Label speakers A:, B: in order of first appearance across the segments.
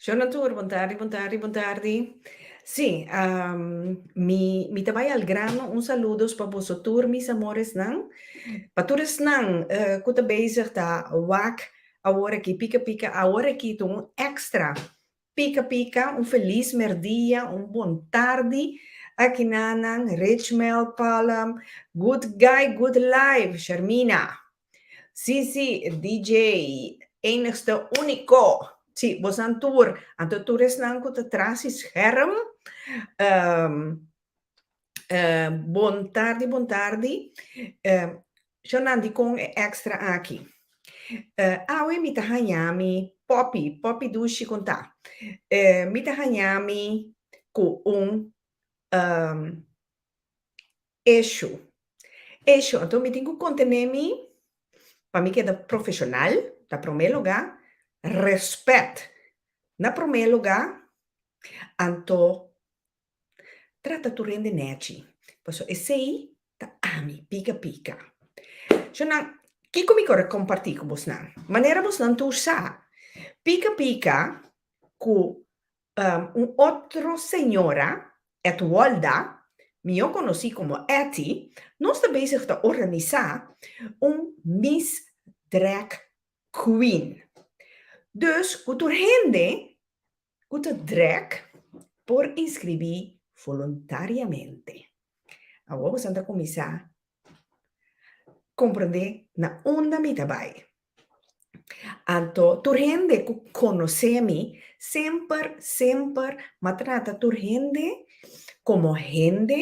A: Shona tur, bon tardi, bon tardi, bon tardi. Sí, um, mi, mi ta bai al grano. Un saludos pa boso tur, mis amoresnan. Pa tur esnan uh, ku ta bezig ta wak awor aki, pika pika, awor aki tu un extra. Pika pika, un feliz merdia, un bon tardi. Aki nanan, Richmel, Palm, Good Guy, Good Life, Shermina. Sí sí DJ enigste único sí bosan tur anto tur esnan cu ta tras e scherm bon tardi bon tardi shannan dicon e extra aki awe mi ta hanja mi poppy poppy dushi con ta mi ta hanja mi cu un. Eshu. Eshu. Anto mi tin cu contene mi pa mi keda profesional, na prome luga, respet na prome luga, anto trata tur hende nechi, pasobra esey ta ami, pica pica. Sho nan, kico mi core comparti cu bosnan? Manera bosnan ta usa pica pica cu Un otro señora, Etwolda, mió conocí como Etty, nos ta bezig ta organiza un Miss Drag Queen. Dus cu tur hende cu ta drag por inscribí voluntariamente. Awo boso a ta cuminsa comprende na unda mi ta bay. Anto tur hende ku konosé mi semper, semper m'a trata tur hende komo hende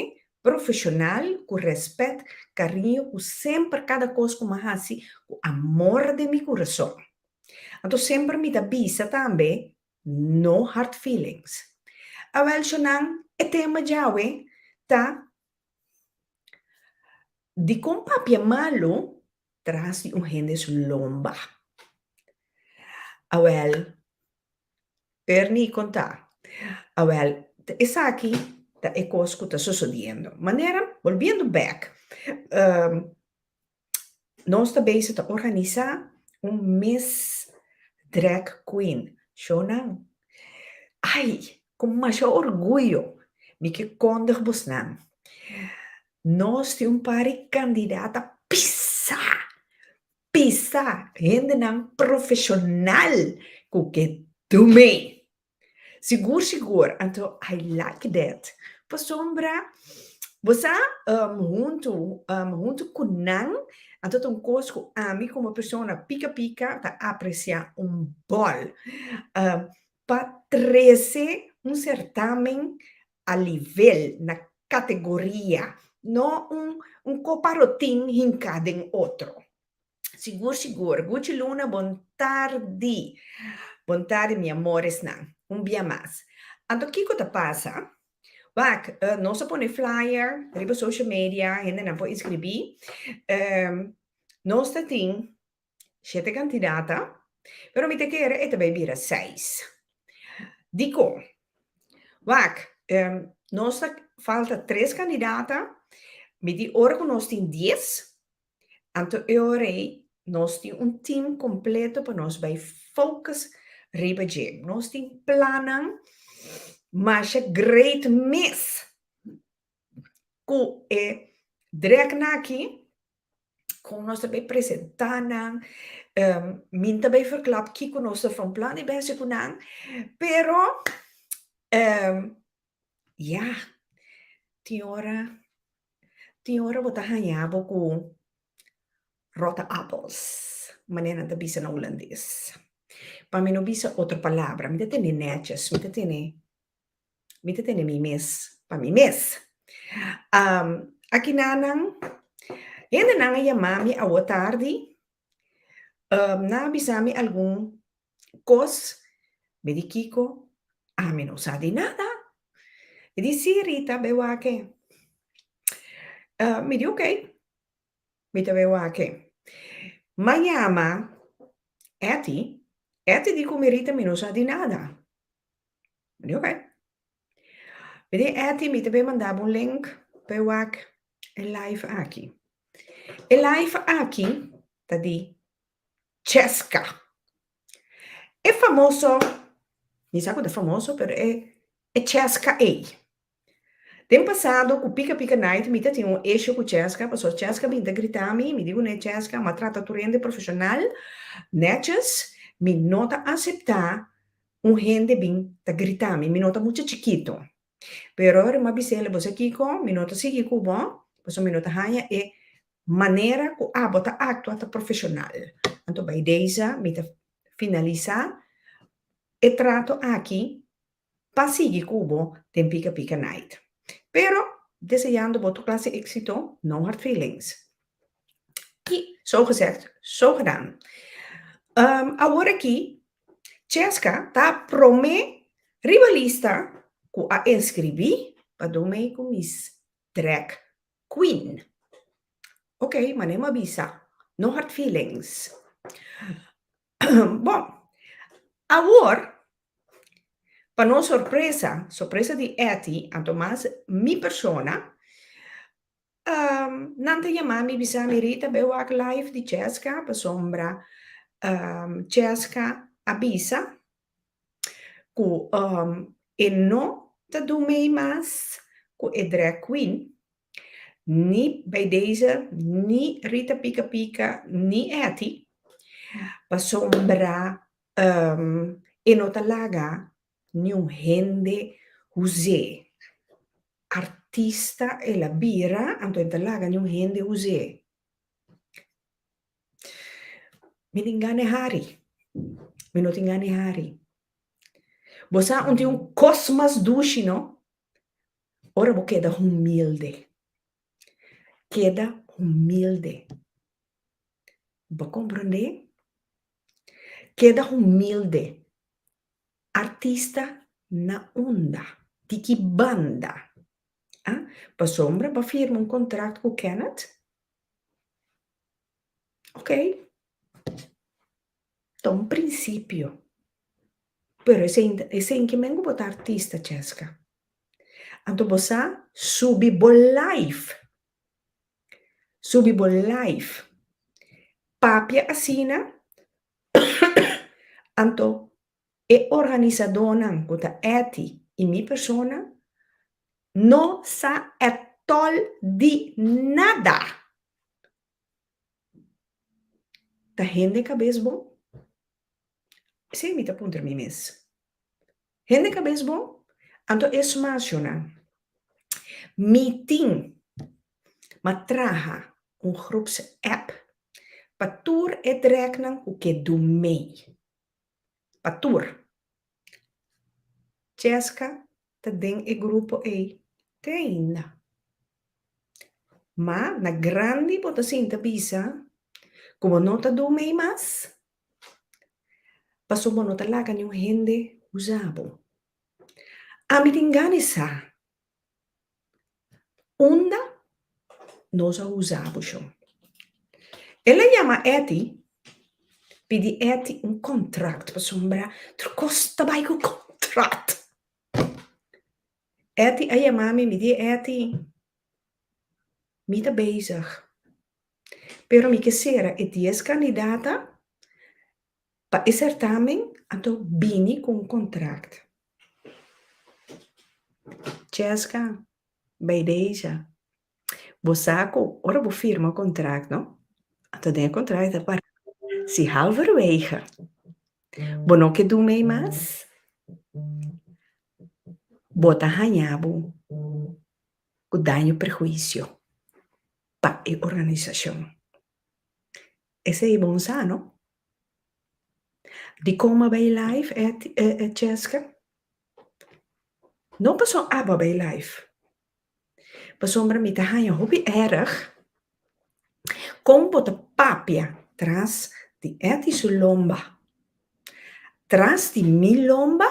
A: profeshonal ku rèspèt, kariño ku semper kada kos ku m'a hasi ku amor den mi kurason. Anto semper mi ta bisa tambe, no hard feelings. Awèl, shònan, e tema djawe ta Dikon papia malu tras di un hende su lomba? Awel, Bernie konta, Awel, ta esaki ta e kos ku ta sosodiendo. Manera, bolbiendo bek. Nos ta bezig ta organisa un Miss Drag Queen shownan. Ai, ku masha orguyo mi ke kondig busnan, nos tin un par di kandidata pisá, pisá, hendenan profeshonal ku ke dum'é! Sigur sigur, anto I like that. Pasobra bo sa huntu huntu ku nan, anto ta un kos ku ami komo persona pika pika ta apresiá un bòl. Pa trese un sertamen a livel, na kategoria, no un koparotin hinká den otro. Sigur sigur. Gucci Luna bon tardi. Bon tardi mi amoresnan. Un bia mas. Anto kiko ta pasa? Wak, nos a pone flyer riba social media, hendenan por inskribí. Nos ta tin shete kantidata, pero mi ta kere e ta bai bira seis. Diko? Wak, nos ta falta tres kandidata, mi tin ora ku nos tin dies, Anto e ora ei nos tin un team completo pa nos bay focus riba dje. Nos tin plannan masha great mes cu e dreknan aki con nos ta bay presenta nan, mi ta bay vercla kico nos ta from plan di bay haci cu nan pero Ya, tin ora, tin ora bo ta haña bo ku rotte appels, manera nan ta bisa na hulandes. Pa mi no bisa otro palabra, mi ta tene nètjes, mi ta tene, mi ta tene mi mes pa mi mes. Aki nan, nan, hendenan a yama mi awo tardi, Nan a bisa mi algun kos, me di kiko, ami no sa di nada. E di, Sí, Rita, be wak e. Mi di, Oké, mi ta be wak e. M'a yama Etty, Etty di ku mi, Rita, mi no sa di nada. Mi di, Oké. Mire Etty, mi ta be mandá bo un link pa e wak e live aki. E live aki ta di Cheska. E famoso, mi sa ku ta famoso, pero e Cheska ei. Den pasado ku pika pika night mi ta tin un issue ku Cheska, pasobra Cheska bin ta grita mi, mi di kuné Cheska, m'a trata tur hende profeshonal, nètjes, mi no ta aseptá Un hende bin ta grita mi, mi no ta mucha chikito. Pero ora mi a bisa el, bo sa kiko, mi no ta sigui ku bo, pasobra mi no ta haña e manera ku abo ta aktua ta profeshonal. Anto bai deiza mi ta finalisá e trato aki pa sigui ku bo den Pika Pika Night. Pero deseando bo tur klase éksito, no hard feelings. I so gezegd, so gedaan. Awor aki Cesca ta prome riba lista cu a inscribi pa dun mei cu Miss Drag Queen. Ok, mane m'a bisa. No hard feelings. bon, awor, pa nos sorpresa, sorpresa di Etty, a toma mi persona nan ta yama mi bisa mi Rita be wak live di Chesca pasobra Chesca a bisa cu e no ta dun mei mas cu e drag queen ni bay deze ni Rita Pica Pica ni Etty pasobra e no ta laga Niun hende huz'é. Artista el a bira, anto e ta laga niun hende huz'é. Mi tin gana e hari. Mi no tin gana e hari. Bo sa un tin un kos mas dushi, no? Ora bo keda humilde. Keda humilde. Bo ta komprondé? Keda humilde. Artista na unda? Di ki banda? A Pasombra ba firma un kontrakt ku Kenneth? Ok. Ta un prinsipio. Pero esei esei ke men ku bo ta artista, Chesca. Anto bo sa subi bo life. Subi bo life. Papia asina Anto e organisadónan ku ta Etty i mi persona no sa atòl di nada! Ta hende kabes bon? Esei mi ta puntra mi mes. Hende kabes bon? Anto e smas yo nan. Mi tin ma traha un groeps app pa tur e drèknan ku ke do mei. Pa tur. Cheska ta den e grupo ei te ainda. Ma na grandi bo ta sinta bisa ku bo no ta do mei mas. Pasobra bo no ta laga niun hende usa bo. Ami tin gana sa unda nos a usa bo shon. El a yama Eti, pidi Eti un kòntrat pasobra tur kos ta bai ku kòntrat. Eti a yama mi, mi di e Eti, mi ta bezig Pero mi ke sera e dies kandidata pa e sèrtamen, anto bini ku un kontrakt. Chèska, Baideija, bo sa ku ora bo firma un kontrakt no, anto den e kontrakt ta para si halverwege bo no ke dun mei mas, bo ta haña bo ku daño perhuisio. pa e organisashon. Esei bon sa, no? Dikon m'a bai laif e e chèska? No pasobra abo a bai laif, pasobra mi ta haña hopi èrèg kon bo ta papia tras di Etty su lomba, tras di mi lomba,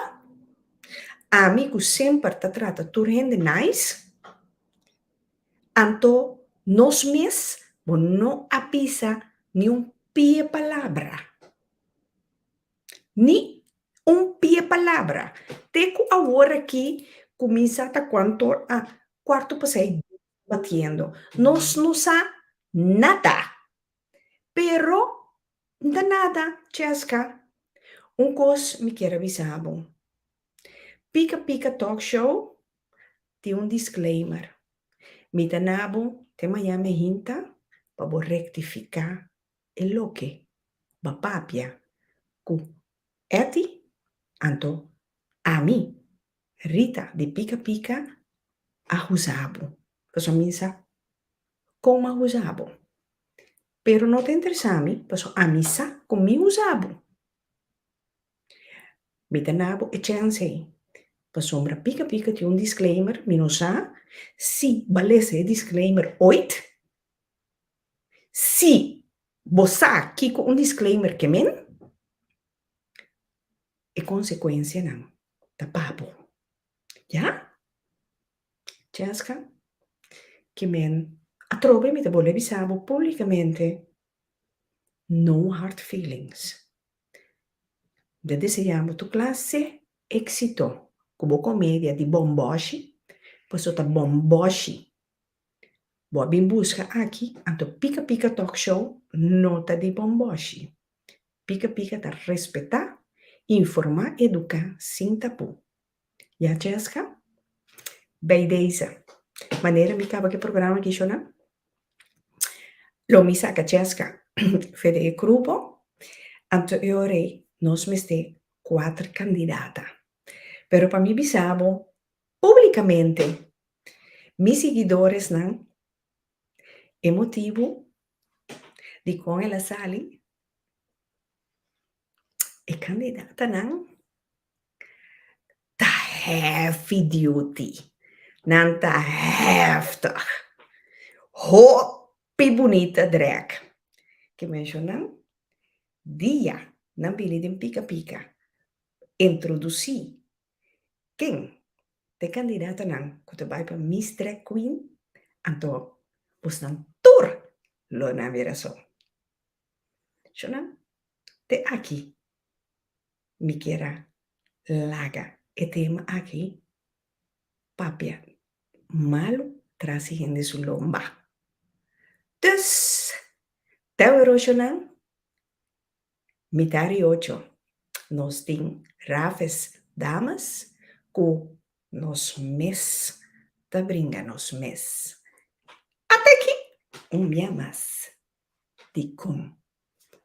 A: ami ku semper ta trata tur hende nice. Anto nos mes bo no a bisa niun pie palabra, ni un pie palabra, te ku awor aki kuminsá ta kuanto a kuarto pasá i dies batiendo. Nos no sa nada. Pero, N ta nada, Chesca. Un cos mi kier a bisa bo. Pica Pica Talk Show tin un disclaimer. Mi ta na bo te mañana e hinta pa bo rectifica e loke ba papia cu Etty anto ami, Rita di Pica Pica, a huza bo. Pasobra mi sa Kon m'a usa bo. Pero no ta interesá mi, paso ami sa kon mi usa bo. Mi ta na bo e chèns ei. Pasobra pika pika tin un disclaimer, mi no sa si b'a lesa e disclaimer oit. Si bo sa kiko un disclaimer ke men, e konsekuensianan ta pa bo. Ya? Jessica, Kimen, atrobe mi ta bole bisa bo publicamente, no hard feelings. Mi ta desea bo tur clase exito cu bo comedia di bomboshi, paso ta bomboshi. Bo a bin busca aki, anto Pica Pica Talk Show no ta di bomboshi. Pica Pica ta respeta, informa, educa sin tapu. Ya Jessica? Bay deze manera mi caba cu e programa Kishona, lo mi saca Jessica for di e grupo, anteriori nos mester cuater candidata, pero pa mi bisa bo publicamente, mi sigidoresnan, e motibu dicon el a sali, E candidatanan ta heavy duty, nan ta heftig, hopi bunita drek. Ki mencionnan dia nan bini den pica pica introduci ken ta e candidatanan cu ta bay pa Miss Drag Queen, anto bosnan tur lo na mira so. Shonnan, te aki mi kier a laga e tema aki, papia malu trasi hende su lomba. Dus, tawero shonnan, mita di ocho nos tin Raves Damas ku nos mes ta bringa nos mes. At'aki un bia mas. Dikon?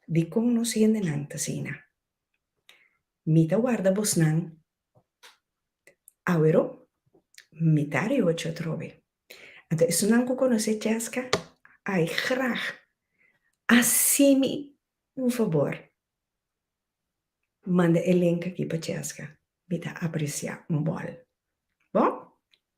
A: Dikon nos hendenan ta asina? Mi ta warda bosnan awero, mi ta riochi atrobe. Anto esunnan ku konosé Chesca, ai grag hasi mi un fabor, manda e link aki pa Chesca, mi ta apresiá un bòl. Bo?